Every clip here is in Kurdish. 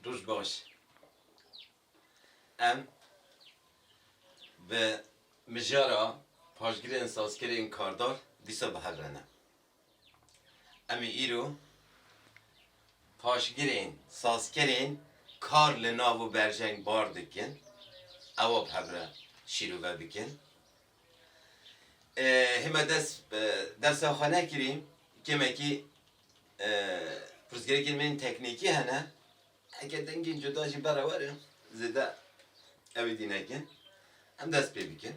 Roj baş. Em bi mijara paşgirên sazkerên kardar dîsa bi hev re ne. Em ê îro paşgirên sazkerên kar li nav û berjeng bar dikin, ewa bi hev re şîrove bikin. Hê me dest bi dersa xwe nekirî, kêmekî Pirsgirêkên me yên teknîkî hene. Heke dengên cuda jî bere were zêde ew ê dî nekin. Em dest pê bikin.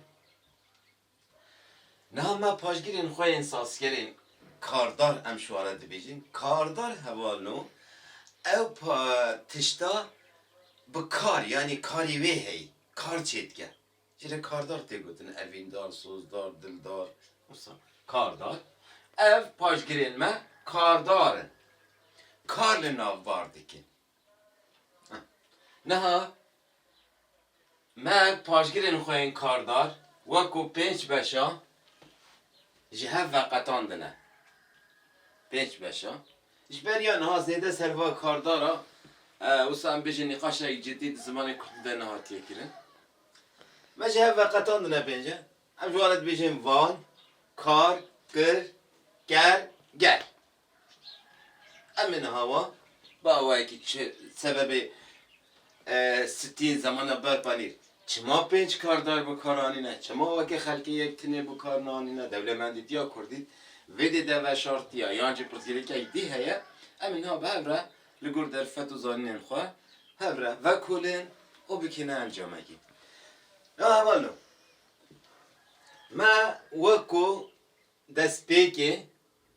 Niha me paşgirên xwe yên sazkerên kardar em ji ware dibêjin. Kardar heval no ew tişta bi kar yanî karê wê heyî, kar çêdike. Ji re kardar tê gotin, evîndar, sozdar, dildar, wisa. Kardar, ev paşgirên me kardar in, kar li nav bar dikin. Niha me paşgirên xwe yên kardar weko pênc beşa ji hev veqetandine. Pênc beşa. Ji ber ya niha zêde ser va kardar a, wisa em bêjin nîqaşek cidî di zimanê kurdî de nehatiye kirin. Me ji hev veqetan dinepênce, em ji wan re dibêjin van, kar, kir, ker, ger. Em ê niha wan bi awayekî çi sebebê Stîl, Zamana Berpanîr, Çima pênc kardar bi kar anîne? Çima weke xelkê yek tinê bi kar nanîne? Dewlemendîtiya kurdî vê dê de veşartiye yan jî pirsgirêkek dî heye? Em ê niha bi hev re li gor derfet û zanînên xwe hev re vekolên û bikêne encamekî. Ya heval o, me wek ku destpêkê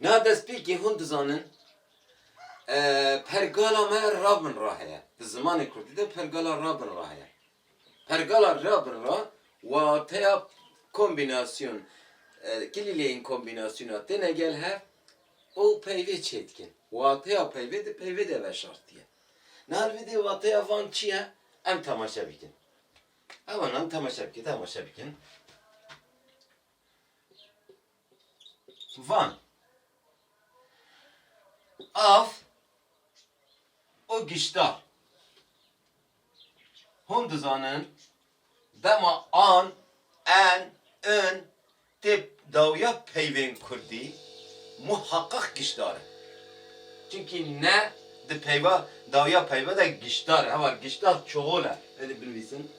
Niha destpêkê hûn dizanin pergala me ra bin ra heye. Di zimanê kurdî de pergala ra bin ra heye. Pergala ra bin ra wateya kombînasyon, kilîleyên kombînasyona têne gel hev û peyvê çêdikin. Wateya peyvê di peyvê de veşartiye. Niha li vê dê wateya van çi ye? Em temaşe bikin. Hewa nan temaşe bikin, temaşe bikin. Van. Av û gişta. Hûn dizanin dema an, en, in tê dawiya peyvên kurdî muheqeq gişdar in. Çimkî ne di peyva dawiya peyva de gişdar e. Heval gişta çoxol e. Hêdî binivîsin.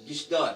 Gişdar.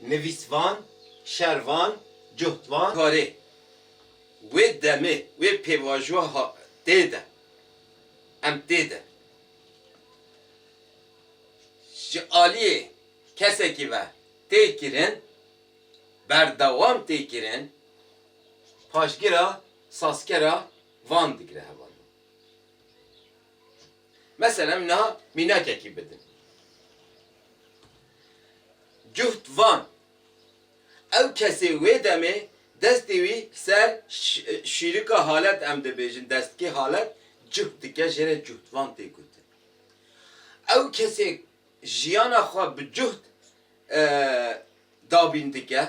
nivîsvan, şervan, cuhtvan. Karê wê demê wê pêvajoya ha tê de em tê de ji aliyê kesekî ve tê kirin, berdewam tê kirin, paşgira sazkera van digire hevalên. Mesela em niha mînakekî bidin. Cuht van, ew kesê wê demê destê wî ser şîrika halet em dibêjin destkê halet cuht dike jê re cuht van tê gotin. Ew kesê jiyana xwe bi cuht dabîn dike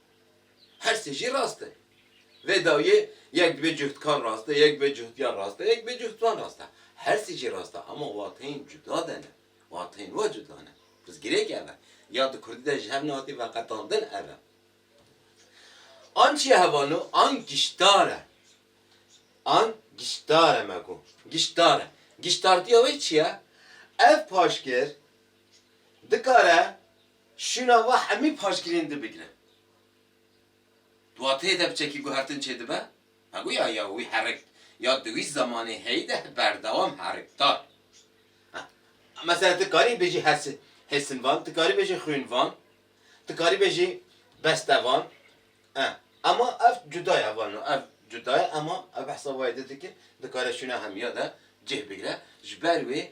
Her sê jî rast e. Vê dawiyê yek dibê cuhtkar rast e, yek dibê cuhtyar rast e, yek dibê cuhtvan rast e. Her sê jî rast e ama wateyên cuda de ne. Wateyên we cuda ne. Pirsgirêk ev e. Ya di kurdî de ji hev nehatî veqetandin ev e. An çi ye hevano? An giştar e. An giştar e me got. Giştar e. Giştartiya wê çi ye? Ev paşgir dikare. Şûna we hemî paşgirên di bigire. Duatê de biçekî guhertin çêdibe, hego ya ya wî herik ya di wî zamanê heyî de berdewam herik da. Mesela ti karî bêjî hes hêsinvan, ti karî bêjî xwînvan, ti karî bêjî bestevan e. Ema ev cuda ye heval no. Ev cuda ye ema ev behsa wayê di dike, dikare şûna hemî ya de cih bigire. Ji ber wê.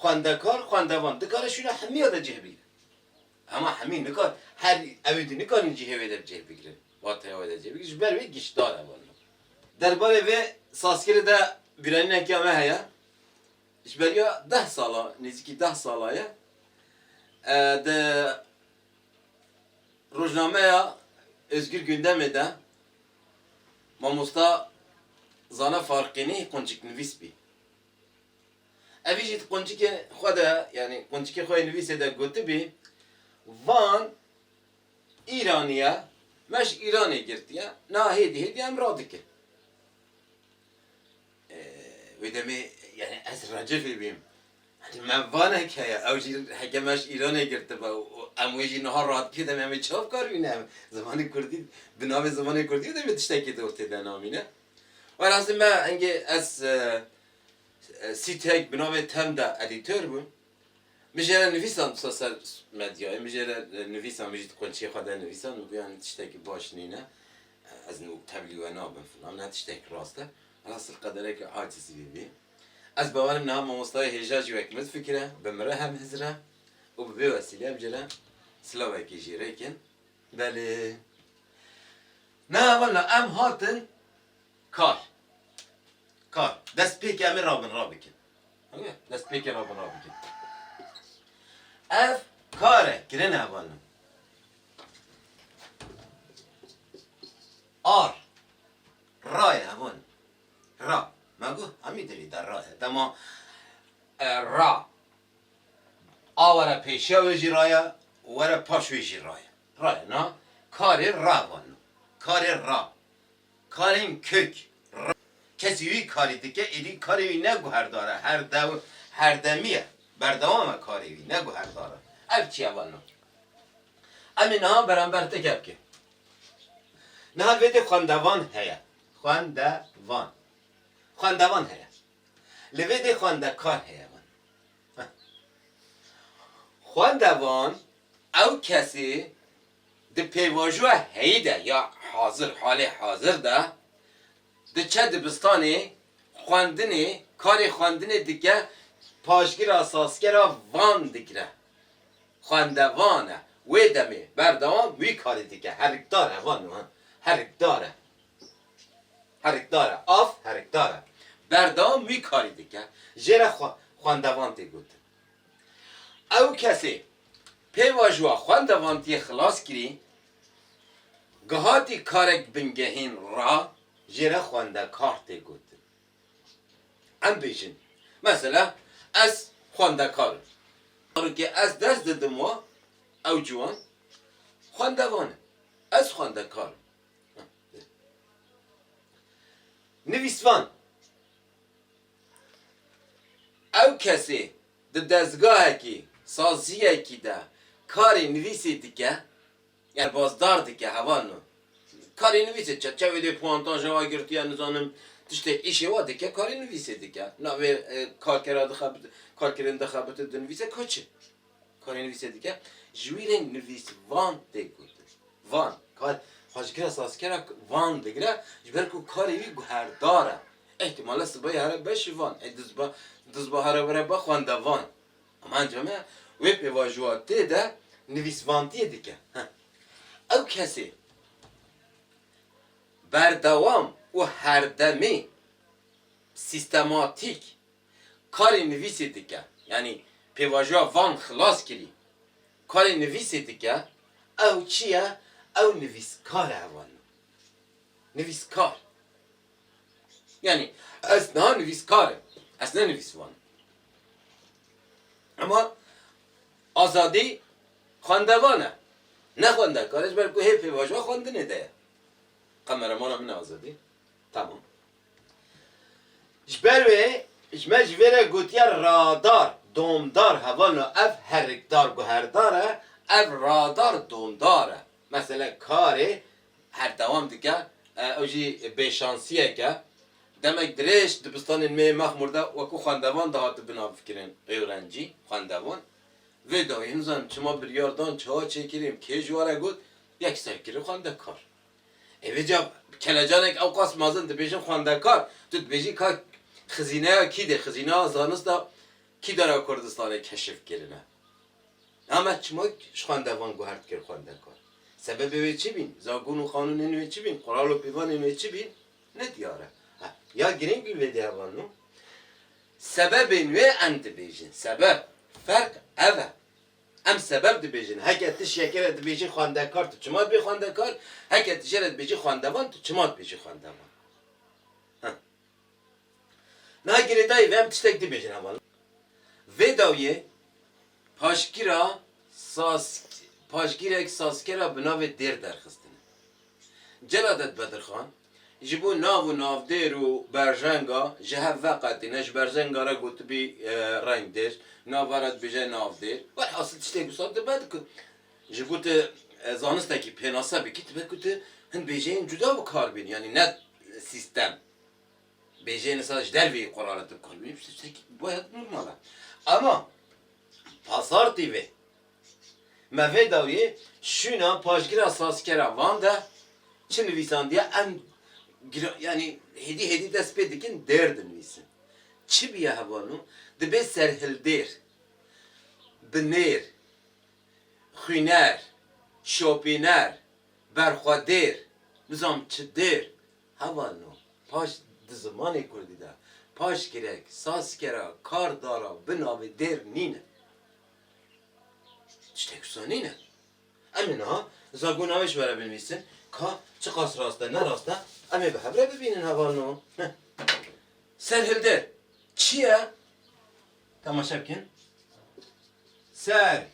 Xwendekar, xwendevan dikare şûna hemîya de cih bigrin. Hema hemî nikar her ew dî nikarin cihê wê de bi cih bigrin. Wateya wê de cih bigrin ji ber wê giştdar e wano. Der barê vê sazkirê de bîranîneke me heye. Ji beriya deh sala, nêzîkî deh sala ye di rojnameya Ozgûr Gundemê de mamosta Zana Farqînî qunçiknivîs bî. Evî jî di quncikê xwe de yanî quncikê xwe yê nivîsê de gotibî, Van Îranî ye, me ji Îranê girtiye, niha hêdî hêdî em radikin. Wê demê yanî ez recixî bîm. Yanî me vanek heye, ew jî heke me ji Îranê girtibe û em wê jî niha radikê demê em ê çav kar bîne. Zimanê kurdî bi navê zimanê kurdî demê tiştekî di ortê de namîne. Wê rastî me engê ez sîteyek bi navê Term de edîtor bûm. Min jê re nivîsan disa ser medyayê, min jê re nivîsan, min jî di qunçê xwe de nivîsan, min gotiye hin tiştekî baş nîne, ez nû tevlî we nabim filan, ne tiştekî rast e. Wela sir qedereke acizî vê bî. Ez bawerim niha mamostayê hêja jî wek min difikire, bi min re hem hizir e û bi vê wesîleyê em jê re silavekî jî rêk in. Belê. Na walla em hatin kar kar destpêkê em ê ra bin ra bikin. Ewê destpêkê ra bin ra bikin. Ev kar e kirin e walla. Ar ra ye hevan ra me got hemî dilê de ra ye dema ra a were pêşiya wê jî ra ye û were paş wê jî ra ye. Rayê na karê ra vano. Karê ra. Karên kök. Ra. Kesî wî karî dike êdî karê wî ne guherdar e, herdew, herdemî ye, berdewam e karê wî, ne guherdar e. Ev çiye vano? Em ê niha berember ti gep bikin. Niha vêdê xwendevan heye. Xwendevan. Xwendevan heye. Li vê dê xwendekar heye vano. Xwende van ew kesê di pêvajoya heyî de ya hazir halê hazir de diçe dibistanê xwendinê karê xwendinê dike paşgira sazkera van digire xwende van e wê demê berdewam wî karî dike herikdar e van herikdar e. Herikdar e, av herikdar e. Berdewam wî karî dike. Jê re xwendevan tê gotin. Ew kesê pê vajuwa xwendevantiyê xilas kirî, gihatî karek bingehîn ra, jê re xwendekar tê gotin. Em bêjin, mesela ez xwendekar im. Zarokê ez ders didim wa, ew ciwan xwendevan e. Ez xwendekar im. Nivîsvan, Ew kesê di dezgahekî, saziyekî de karê nivîsê dike, derbazdar dike, heval in. Karê nivîsê, çerçevê dê puantaja wa girtiye, nizanim tiştê îşê wa dike, karê nivîsê dike. Navê karkera dixe, karkerên dixebite dinivîse, ka çi? Karê nivîsê dike. Ji wî re nivîs van tê gotin. Van. Kar xwecikira sazkera van digire ji ber ku karê wî guherdar e. Îhtîmale sibayê here be şivan. Ê duzba duzba here were be xwendevan. Ama encame wê pêvajoya tê de nivîsvantiyê dike. Heh. Ew kesê berdewam û herdemê sîstematîk karê nivîsê dike, yanî pêvajoya van xilas kirî, karê nivîsê dike, ew çi ye, ew nivîskar e heval min. Nivîskar. Yanî ez niha nivîskar im, ez ne nivîsvan im. Ema azadî xwendevan e, ne xwendekar e ji ber ku hê pêvajoya xwendinê de ye. Qemeremana min e azadî. Tamam. Ji ber wê ji me ji vê re gotiya radar domdar heval no ev herikdar guherdar e ev radar domdar e mesele karê herdewam dike ew jî bêşansiyek e demek dirêj dibistanên me yê mexmur de wekû xwendevan dihati binafikirin êwrencî xwendevan vê dayî nizanim çima biryar dan çiha çêkirîn kê ji wan re got yek serkirî xwendekar. Hêvî ca kelecanek ewqas mezin dibêjin xwendekar, tu dibêjî ka xizîneya kî dê, xizîneya zanista kî dara Kurdistanê keşif kirine. Na me çima ji xwendevan guhert kir xwendekar? Sebebê wê çi bîn? Zakûn û qanûnên wê çi bîn? Qural û pîvanên wê çi bîn? Ne diyar e. Ha, ya girîng bîn vê dêya van no. Sebebên wê em dibêjin. Sebeb, ferq ev e. Em sebeb dibêjin. Heke tu şeke re dibêjî xwendekar tu çima dibî xwendekar, heke tu jê re dibêjî xwendevan tu çima dibêjî xwendevan. Ha. Niha girêdayî vê em tiştek dibêjin heval. Vê dawiyê paşgîra Sask paşgîrek Saskera bi navê Dêr derxistine. Celadet Bedirxan, ji bo nav û navdêr û berjenga ji hev veqetî ne, ji berjenga re gotibî rengdêr, nava re dibêje navdêr. Welhasil tiştê wisa dibe di ku ji bo tu zanistekî pênase bikî dibe ku tu hin bêjeyên cuda bi kar bînî yanî ne sîstem. Bêjeyên îsal ji derveyî qurare tê bi kar bînî, tiştekî waya normal e. Ema pasartî vê. Me vê dawiyê şûna paşgira sazkera van de çi nivîsandiye em gira yanî hêdî hêdî dest pê dikin dêr dinivîsin. Çi biye hebwano dibê serhildêr, binêr, xwîner, şopîner, berxwedêr, nizam çi dêr hebwano paş di zimanê kurdî de paşgirek, sazkera, kardara bi navê dêr nîne. Tiştek wisa nîne. Em ê niha zagona wê ji we re binivîsin ka çiqas rast e ne rast e em ê bi hev re bibînin heval no. Serhildir çi ye? Temaşe bikin. Serhildan.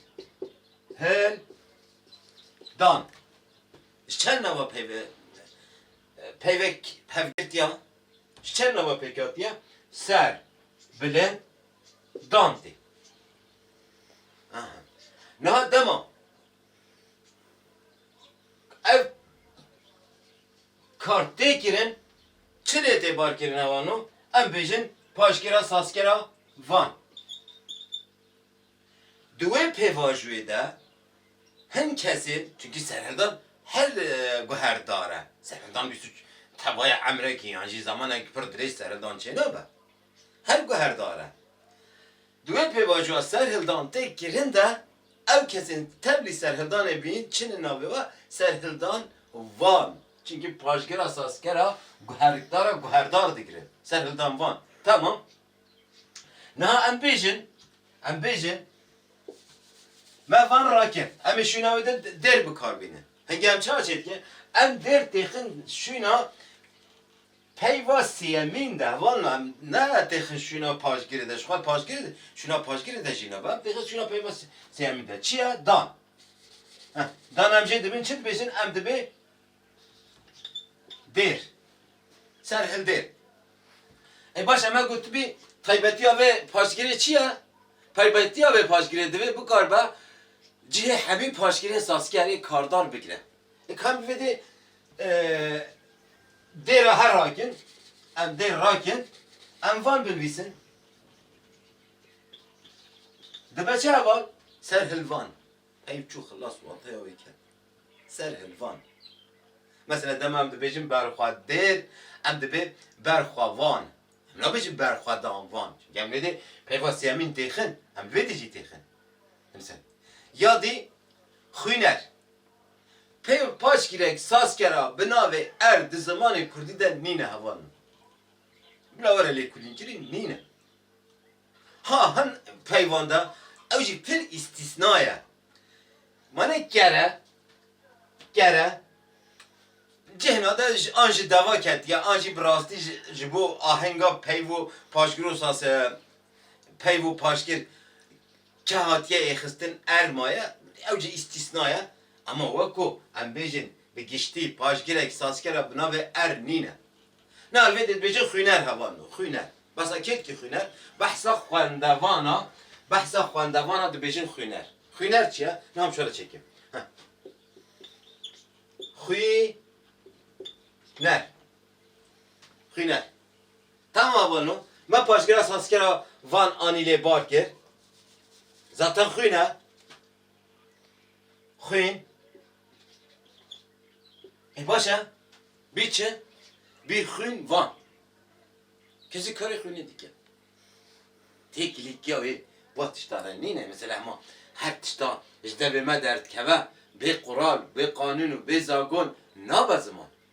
Ji çend nava peyve peyvek pevgirtiya? Ji çend nava pêk hatiye? Ser, bilind, Dante. Aha. Niha dema ev kar tê kirin, çi lê tê barkirin hewan o? Em bêjin paşkêra sazkera van. Di wê pêvajoyê de hin kesên, çunkî serhildan her guherdar e. Serhildan bîst û tevaya emrekî yan jî zamanek pir dirêj serhildan çênabe. Her guherdar e. Di wê pêvajoya serhildan tê kirin de ew kesên tevlî serhildanê bînin çinin navê we serhildan van. Çimkî paşgira sazkera guherdara guherdar digirin. Serhildan van. Tamam. Niha em bêjin, em bêjin me van rakin. Em ê şûna wê de dêr bikar bînin. Hingê em çawa çê dikin? Em dêr têxin şûna Peyva sêyemîn de heval na ne têxin şûna paşgirê de ji xwe paşgirê şûna paşgirê de jî nebe têxin şûna peyva sêyemîn de çi ye dan. Heh dan em jê dibin çi dibêjin em dibê dêr ser hildêr. Ê baş eme gotibî taybetiya vê paşgirê çi ye? Taybetiya vê paşgirê divê bikaribe cihê hemî paşgirên sazkerê kardar bigire. Ê kam bi vê dê Dê re her rakin, em dê rakin, em van binvîsin. Dibe çi heval? Ser hilvan. Peyv çû xilas û ateya wê ket. Ser hilvan. Mesela dema em dibêjin berxwe dêr, em dibê berxwe van. Em nabêjin berxwe dan van. Çimkî em nêdê peyva sêyemîn têxin. Em li vê dê jî têxin. Dimsel. Ya dî xwîner. Peyv paşgirek sazkera bi navê Erd di zimanê kurdî de nîne heval min. Bila were lêkolînkirîn nîne. Ha hin peyvan de ew jî pir îstîsna ye. Mane kere, kere cihna de an ji deva ketiye an jî bi rastî ji bo ahenga peyv û paşgir û saz peyv û paşgir Ke hatiye yê xistin err maye, ew jî îstîsna ye. Ema wek ku em bêjin bi giştî paşgirek sazkera bi navê err nîne. Na helbetê dibêjin xwîner heval o. Xwîner. Besa kêlkî xwîner. Behsa xwendevan a. Behsa xwendevan a dibêjin xwîner. Xwîner çi ye? Na hem şole çêkim. Heh. Xwî ner. Xwîner. Tama vano, me paşgira sazkera van anî lê bar kir. Zaten xwîn e. Xwîn. Ê baş e. Bî çi? Bî xwîn van. Kesî karê xwînê dike. Têkilîtiya wê va tiştan re nîne. Mesela hema her tişta ji debê me derdikeve bê qural, bê qanûn û bê zagon nabe ziman.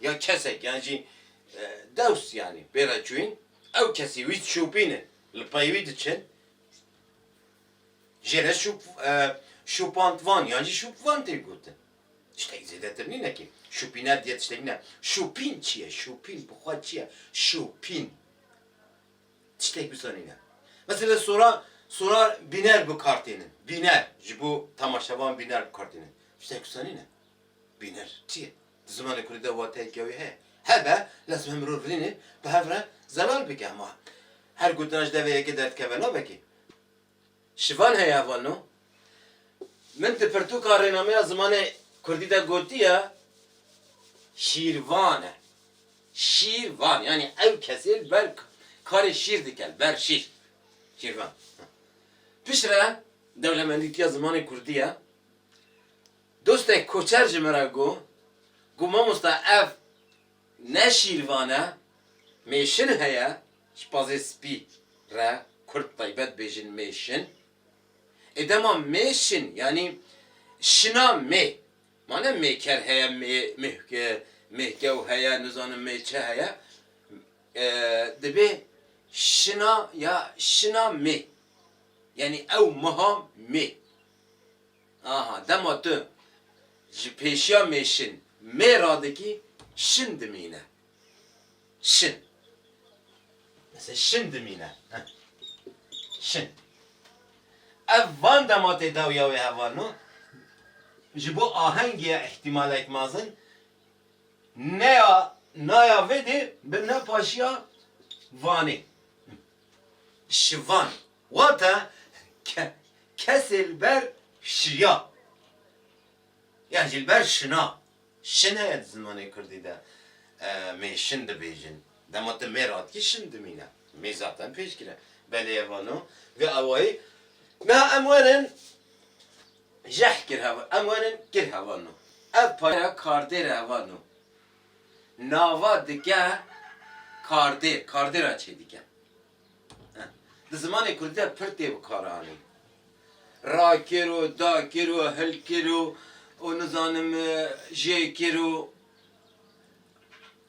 ya kesek yan jî dost yanî pê re çûyîn ew kesî wî dişûpînin li pey wî diçin jê re şûp şûpandvan yan jî şûpvan tê gotin tiştek zêdetir nîne kî şûpîner diye tiştek nîne şûpîn çi ye şûpîn bi xwe çi ye şûpîn tiştek wisa nîne mesela sora sora bîner bi kar tênin bîner ji bo temaşevan bîner bi kar tênin tiştek wisa nîne bîner çi ye. Di zimanê kurdî de wateyeke wê heye. Hebe, lazim e mirov rînê bi hev re zelal bike. Hema her gotina ji devê yekê derdikeve nabe kê. Şivan heye heval no. Min di pirtûka rênameya zimanê kurdî de gotiye, Şîrvan e. Şîr van yanî ew kesê li ber karê şîr dike, li ber şîr. Şîrvan. Piştre dewlemendîtiya zimanê kurdî ye. Dostek koçer ji min re got ku mamosta ev ne şîrvan e, mêşin heye, ji pazê spî re kurd taybet dibêjin mêşin. Ê dema mêşin yanî şina mê, ma ne mêker heye, mêhkew heye, nizanim mê çi heye, dibê şina ya şina mê, yanî ew meha mê. Aha dema tu ji pêşiya mêşin mê radikî şin dimîne. Şin. Mesela şin dimîne. Şin. Ev van dema tê dawiya wê heval no, ji bo ahengê ya îhtîmalek mazin neya naya vê dê bibne paşiya vanê. Şivan. Wate ke kesê li ber şiya yan jî li ber şina, şin heye di zimanê kurdî de mê şin dibêjin. Dema tu mêr atkî şin dimîne. Mê zaten pêşgir e. Belê ye vano vê awayî meha em werin jeh kir hev em werin kir hevano. Ev paya kardêre hevano. Nava dike kardêr, kardêra çêdike. Di zimanê kurdî de pir tê bikaranîn. Rakiro, dakiro, hilkiro û nizanim jêkiro.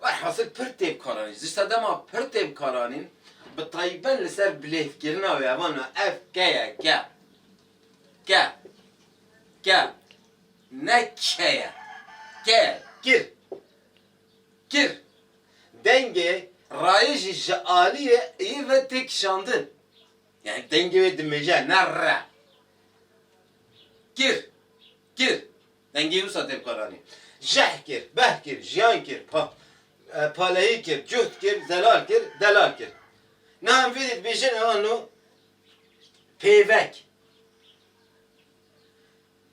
Werhasil pir tê bikaranîn. Ji sedema pir tê bikaranîn bi tayben li ser bilêvkirina wê evan e ev ke ye ke. Ke. Ke. Ne ke ye. Ke ye. Kir. kir. Dengê rayê jî ji aliyê yê ve tê kişandin. Yanî dengê wê dimije ne re. Kir, kir. Dengê wisa tê bikaranî. Jeh kir, beh kir, jiyan kir, pa, paleyî kir, cuhd kir, zelal kir, delal kir. Niha em vêdî dibêjin, ewano pêvek.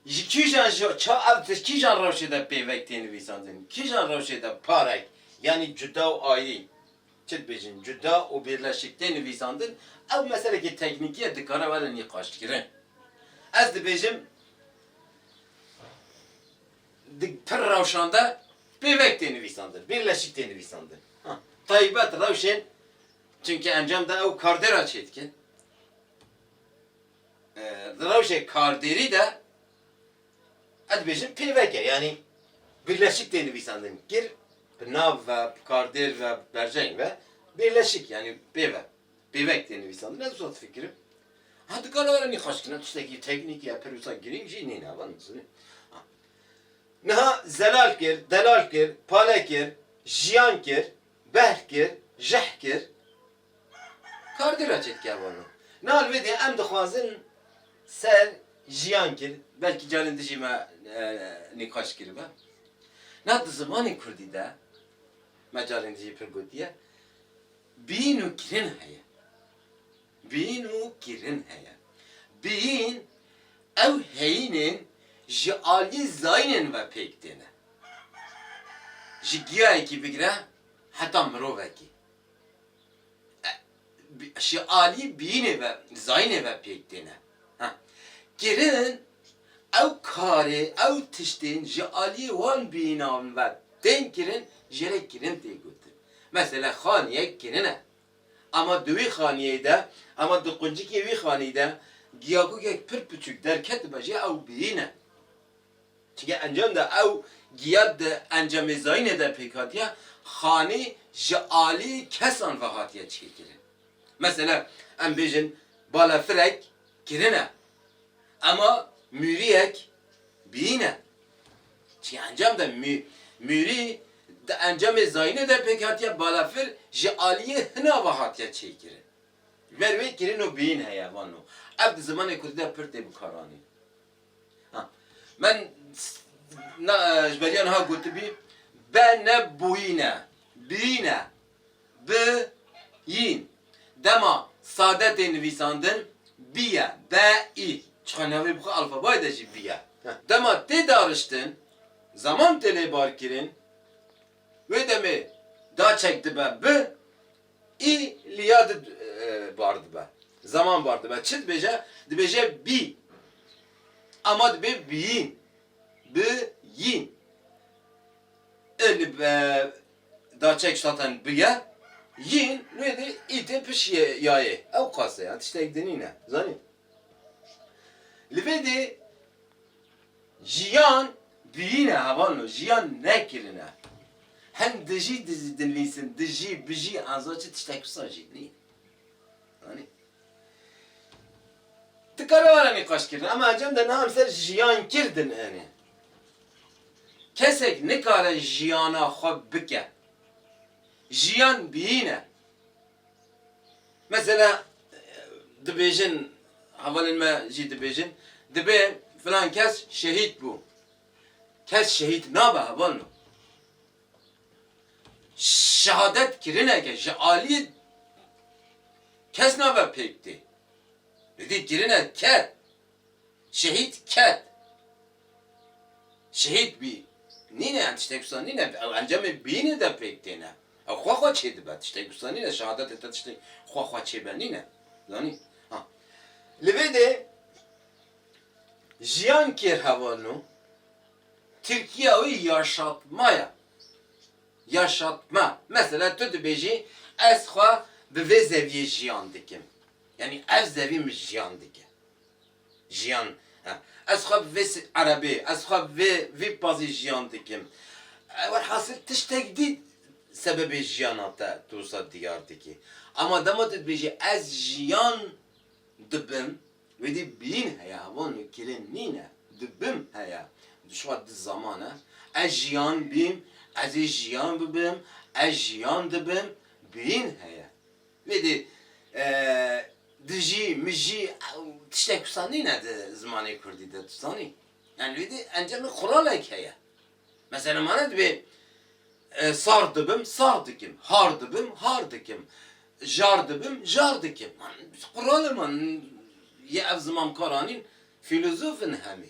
Ji kîjan ji ça ev di kîjan rewşê de pêvek tê nivîsandin? Kîjan rewşê de parek yanî cuda û ayî, çi dibêjin, cuda û bîrleşik tê nivîsandin? Ew meselekî teknîkî ye dikare were nîqaşkirin. Ez dibêjim di pir rewşan de pêvek tê nivîsandin, bîrleşik tê nivîsandin. Ha, taybet rewşên, çimkî encam de ew kardêra çêdike. Di rewşê kardêrî de ez dibêjim pêvek e. Yanî birleşik tê nivîsandin. Kir bi nav ve, bi kardêr ve, bi berjeng ve birleşik yanî pêv e. Pêvek tê nivîsandin. Ez wisa difikirim. Ha dikare were nîxaşkirina tiştekî teknîkî ya pir wisa girîng jî nîn e. Van dizînim. Niha zelal kir, delal kir, pale kir, jiyan kir, behr kir, jehr kir, Kardina Cetkervano, Na li wê de em dixwazin ser jiyan kir, belkî carên dijî me nîqaş kiribe. Na di zimanê kurdî de, me carên dijî pir gotiye, bîn û kirin heye. Bîn û kirin heye. Bîn, ew heyînên ji aliyê zayînên ve pêk têne. Ji giyayekî bigire heta mirovekî. Ji alî bînê ve, zayînê ve pêk têne kirin. Ew karê, ew tiştên ji aliyê wan bînan ve tên kirin jê re kirin tê gotin. Mesela xaniyek kirin e. Ama di wî xaniyê de, ama di quncikê wî xanî de giyagogek pir piçûk derketibe jê ew bîn e. Çike encam de ew giya di encamêzayînê de pêkhatiye xanî ji alî kesan ve hatiye çêkirin. Mesela em bêjin balafirek kirine ema mûriyek bîyîne. Çike encam de mûrî di encamêzayînê de pêkhatiye balafir ji aliyê hina ve hatiye çêkirin. Ji ber wê kirin û bîyîn heye vano. Ev di zimanê kurdî de pir tê bikaranîn. Men ji beriya niha gotibî, be ne bûyîn e, biyîn e, bi yîn. Dema sade tê nivîsandin, bî ye, be î. Çiqa navê bi xwe alfabayê de jî bî ye. Dema tê dariştin, zeman tê lêbarkirin, wê demê da çek dibe bi, Î li ya di bar dibe. Zeman bar dibe. Çi dibêje? Dibêje bî. Ema dibê biyîn. Bi yîn. I li be da çek ştaten bi ye. Yîn wê dê î tê piş ye ya yê. Ewqas e. Tiştek di nîne. Zanî? Li vê dê Jiyan birîne hevano jiyan ne kirine. Hin dijî dinvîsin, dijî, bijî, enza çi tiştek wisa jî nî. Anî. Ti kare were nîqaş kirin ema encam de niha em ser jiyan kir din enê. Kesek nikare jiyana xwe bike. Jiyan birîne. Mesela dibêjin, hevalên me jî dibêjin, dibe filan kes şehîd bû. Kes şehîd nabe hevalno. Şehadet kirineke ji aliyê kes nabe pêk tê. Li dî kirine kes. Şehîd ket, şehîd bî. Nîne yan tiştek wisa nîne. Ew encamê bînê de pêk têne. Ew xwe xwe çê dibe. Tiştek wisa nîne şehadetê te tiştek xwe xwe çê be nîne. Zanî? Ha. Li vê de jiyan kêr heval no. Tirkiya wî yaşatma ye. Yaşatma. Mesela tu dibêjî ez xwe bi vê zeviyê jiyan dikim. Yanî ev zevî min jiyan dike. Jiyan he. Ez xwe bi vê erebê, ez xwe bi vê vî pazî jiyan dikim. Welhasil tiştek dî sebebê jiyana te tu wisa diyar dikî. Ema dema tu dibêjî ez jiyan dibim, wê dî bîn heye, heval nû kirin nîne, dibim heye. Dişwa di zaman e. Ez jiyan bîm, ez ê jiyan bibim, ez jiyan dibim, bîn heye. Lê dê dijî, mijî û tiştek wisa nîne di zimanê kurdî de tu zanî. Yanî lê dê encamê quralek heye. Mesela mane dibê sar dibim, sar dikim, har dibim, har dikim, jar dibim, jar dikim. Qural e man, yê ev zimankaranîn fîlozof in hemî.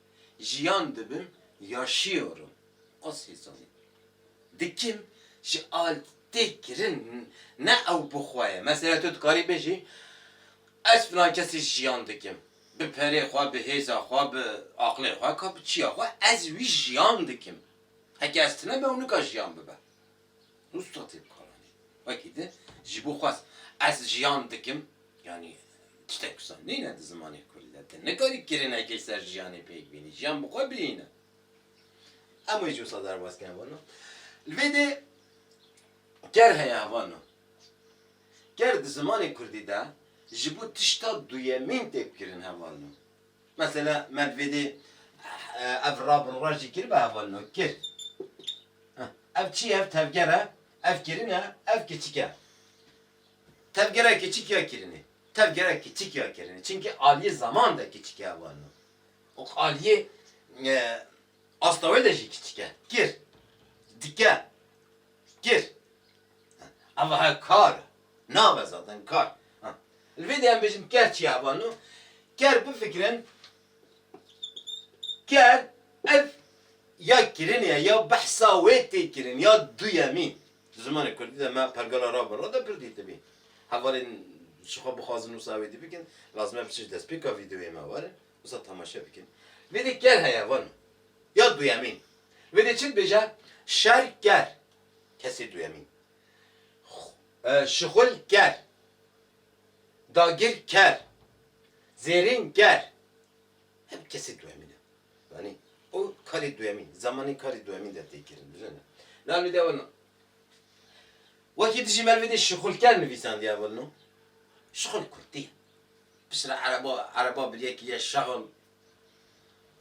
Jiyan dibim, yaşıyorum. As hêsanî. Dikim ji altê kirin ne ew bi xwe ye. Mesela tu dikarî bêjî ez filan kesî jiyan dikim. Bi perê xwe, bi hêza xwe, bi aqlê xwe, ka bi çiya xwe ez wî jiyan dikim. Heke ez tune be ew nika jiyan bibe. Usta tê bikaranîn. Wekî di ji bo xwest ez jiyan dikim, yanî tiştek wisa nîne di zimanê kurdî de. Ti nikarî kirinekê ser jiyanê pêk bînî, jiyan bi xwe bihîne. Em wê ji wisa derbas kirin hevano. Li vê dê ker heye hevano. Ker di zimanê kurdî de ji bo tişta duyemîn tê bikirîn hevano. Mesela Medvedê ev rabûnra jî kir bi hevalino. Kir. Ev çi ye? Ev tevger e? Ev kirin e? Ev kiçik e. Tevgera kiçik ya kirinê? Tevgera kiçik ya kirinê. Çimkî aliyê zeman de kiçik e hevalino. Û aliyê asta wê de jî kiçik e. Kir. Dike. Kir. Ava he kar e. Nave zaten kar. Li vê de em bêjin ker çi ye ava no. Ker bifikirin ker ev ya kirin ye ya behsa wê tê kirin ya duyemîn. Di zimanê kurdî de me pergala ra bi ra de pir dîtibî. Hevalên ji xwe bixwazin wisa wê dî bikin lazim e biçin ji destpêka vîdeoyê me werin wisa temaşe bikin. Li vê de ker heye vano ya duyemîn. Li vê de çi dibêje şer ker. Kesê duyemîn Şixul ker Dagir ker Zêrîn ker Hep kesê duyemîn e. Zanî? O karê duyemîn, zemanê karê duyemîn de tê kirin. Bizane. Nal bide weno. Wekî dijî merivê de şixul ker nivîsandiya weno. Şixul kurdî ye. Piştre ereba, ereba bi yekî ye şexul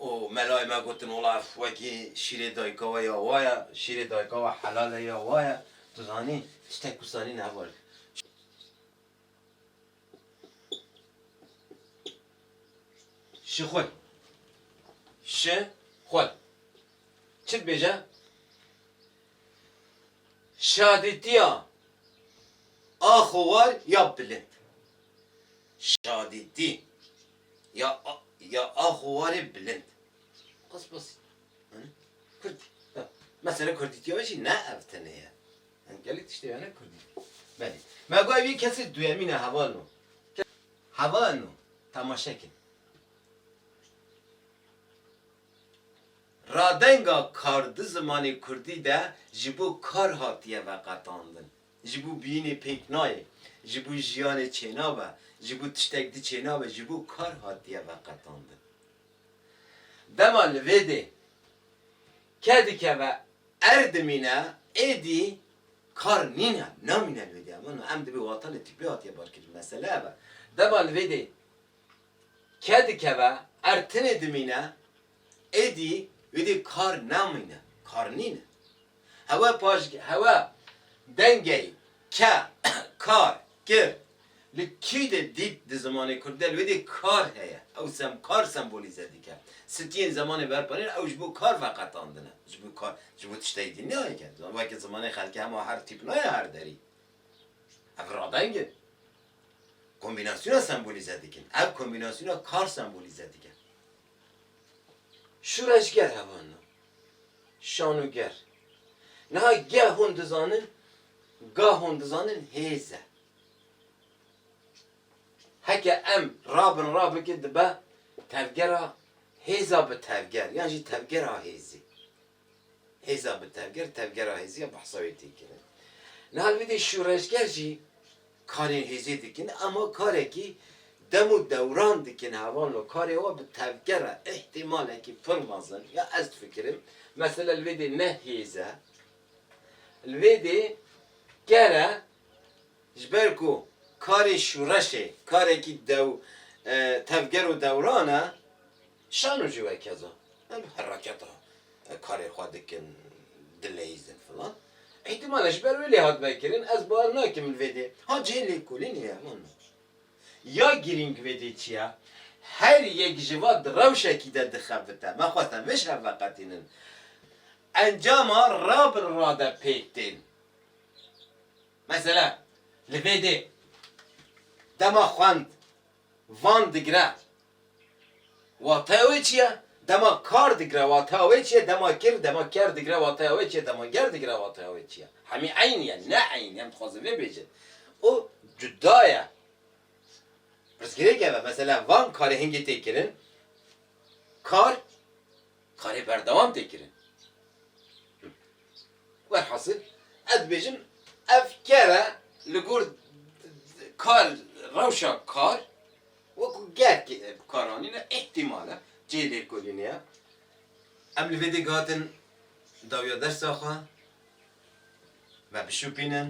û melayê me gotin wala ev wekî şîrê dayika we ya wa ye, şîrê dayika we helal e ya wa ye, tu zanî tiştek ku zanîn heva ye. Şi xwe. Şi xwe. Çi dibêje? Şadîtiya a xowar ya bilind. Şadîtî. ya ya axo warê bilind. Qas bas yani Kurd ya mesela Kurdîtiya ve jî ne ev tenê ye. Yani gelek tiştê hene Kurdî. Belê. Me got ev yê kesê duyemîn e heval no. Heval no. Temaşe kin. Radenga kar di zimanê Kurdî de ji bo kar hatiye veqetandin. Ji bo biyînê pêk nayê, ji bo jiyanê çênabe, ji bo tiştek di çênabe, ji bo kar hatiye veqetandin. Dema li vê dê ke dikeve err dimîne, êdî kar nîne, namîne li vê dê. Emana em dibê watanê tîpê hatiye barkirin. Mesele ev e. Dema li vê dê ke dikeve err tinê dimîne. Êdî êdî kar namîne, kar nîne. Hewe paşg hewe dengeyî ke, kar, kir li kî de dît di zimanê kurdî de li wê dî kar heye. Ew sem kar sembolîze dike. Sitiyên zemanê berpanîn ew ji bo kar veqetandine. Ji bo kar, ji bo tişteyî dî nayê ke. Weke zimanê xelkê hema her tîp nayê her derî. Ev radeng in. Kombînasyona sembolîze dikin. Ev kombînasyona kar sembolîze dike. Şûreşger hevan na. Şanûger. Niha geh hûn dizanin, gah hûn dizanin hêz e. Heke em ra bin ra bikin dibe tevgera hêza bi tevger yan jî tevgera hêzê. Hêza bi tevger, tevgera hêzî ya behsa wê tê kirin. Niha li vê dê şûreşger jî karên hêzê dikin ema karekî dem û dewran dikin hevan lo karê wan bi tevgera îhtîmalekî pir mezin ya ez difikirim mesela li vê dê ne hêz e li vê dê ker e ji ber ku karê şûreşê karekî dew tevger û dewran e Şano jî wekez e. Em hereketa karê xwe dikin, dileyîzin filan. Îhtimale ji ber wê lê hat vekirin, ez bawer nakim li vê dê. Ha cihê lêkolînê ye, min me. Ya girîng vê dê çi ye? Her yek ji va di rewşekî de dixebite. Me xweste vê ji hev veqetînin. Encama ra bi ra de pêk tên. Mesela, li vê dê dema xwend. Van digire wateya wê çi ye? Dema kar digire wateya wê çi ye? Dema kir, dema ker digire wateya wê çi ye? Dema ger digire wateya wê çi ye? Hemî eyn ye? Ne eyn, em dixwazin vê bêjin. O cuda ye. Pirsgirêk ev e. Mesela van karê hingê tê kirin, kar. Karê berdewam tê kirin. Welhasil ez dibêjim ev kere li gor kar rewşa kar wekû ger kar anîne îhtîmal e cihê lêkolînê ye. Em li vê dê gihatin dawiya dersa xwe me bişopînin,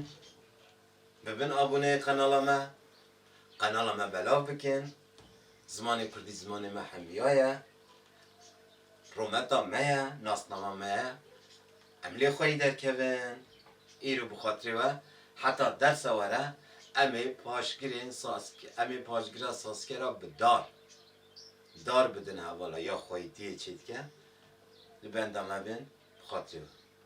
bibin aboneyê qenala me, qenala me belav bikin, zimanê kurdî zimanê me hemiya ye. Rometa me ye, nasnama me ye. Em lê xweyî derkevin. Îro bi xatirê we heta dersa were em ê paşgirên Saskê em ê paşgira Saskê re bi dar dar bidin hevala ya xweyîtiyê çêdike li benda me bin bi xatirê we.